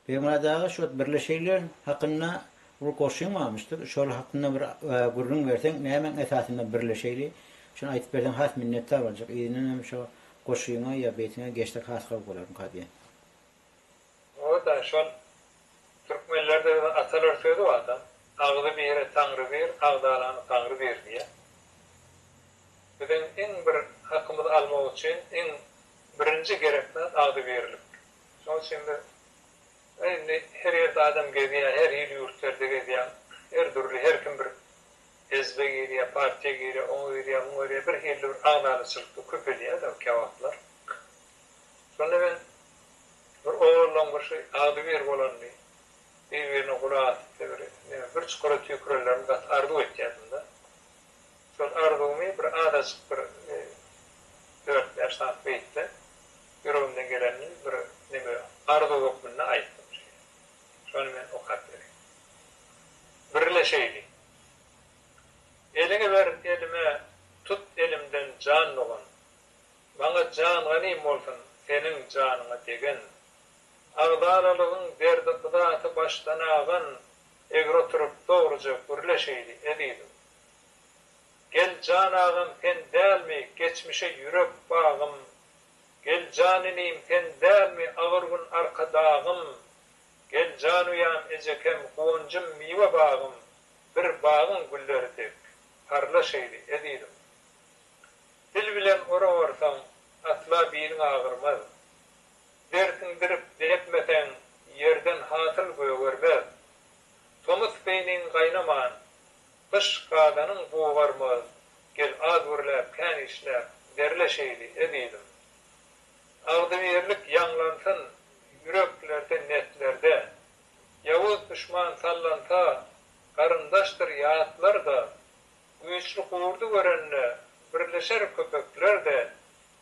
Bermadaga şo birli şeýler hakynda ol goşgyň barmyşdyr şol hakynda bir gürrüň berseň nämäň esasynda birli şeýli şony aýtyp berseň has minnetdar boljak yzyndan hem şo goşgyňa ýa beýtiňe geçsek has gowy bolarmyka diýen. Oda şol türkmenlerde atalar sözi barda agzy bire taňry bir agzalany gaňry bir diýä biziň iň bir hakymyzy almak üçin iň birinji gerek zat agzybirlik Şoň üçin biz indi her ýerde adam gezýär, her hili ýurtlarda gezýäň, her dürli, her kim bir hezbe girýär, partiýa girýär, oňa girýär, muňa girýär, bir hili bir agzalaçylykda köpelýär-de käwagtlar. Şonda men bir ogullaň bir şu agzybir bolandy, bir-birine gulak asypdy, bir neme bir çukura tüýkürelermi gaty arzuw etýärdim-de. Şol arzuwymy bir azajyk bir dört-bäş sany beýtde Ýüregimden gelenini bir neme arzuw hökmünde aýtdym şeýle. Şony men okap bereýin. Biri-le şeýle. Eliňi ber elime, tut elimden jan dogan. Maňa jan ganym bolsun, seniň janyňa degen. Agzalalygyň derdi-yzaty başdan agan, egri oturyp dogruja gürle şeýle, ezizim. Gel jan agam sen dälmi, geçmişe ýürek bagym, Gel jan inim sen dälmi agyr gün arkadagym Gel jan uýam ejekem guwanjym miwe bagym Bir bagyň gülleri dek parla şeýdi ezizim Dil bilen ora barsaň asla biliň agyrmaz Dersiň dirip depmeseň ýerden hasyl gögermez Tomus beýniň gaýnaman Gyş gadanyň gugarmaz, gel az gürläp, kän işläp, derle şeýli, ezizim. Agzybirlik ýaňlansyn ýüreklerde, neslerde. Ýowuz duşman sallansa, garyndaşdyr ýatlar-da. Güýçli gurdy görende, birleşer köpekler-de.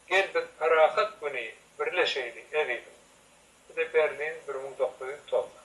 Gel biz parahat güni, birleşeýli, ezizim. Bu-da Berlin, bir müň dokuz ýüz togsan.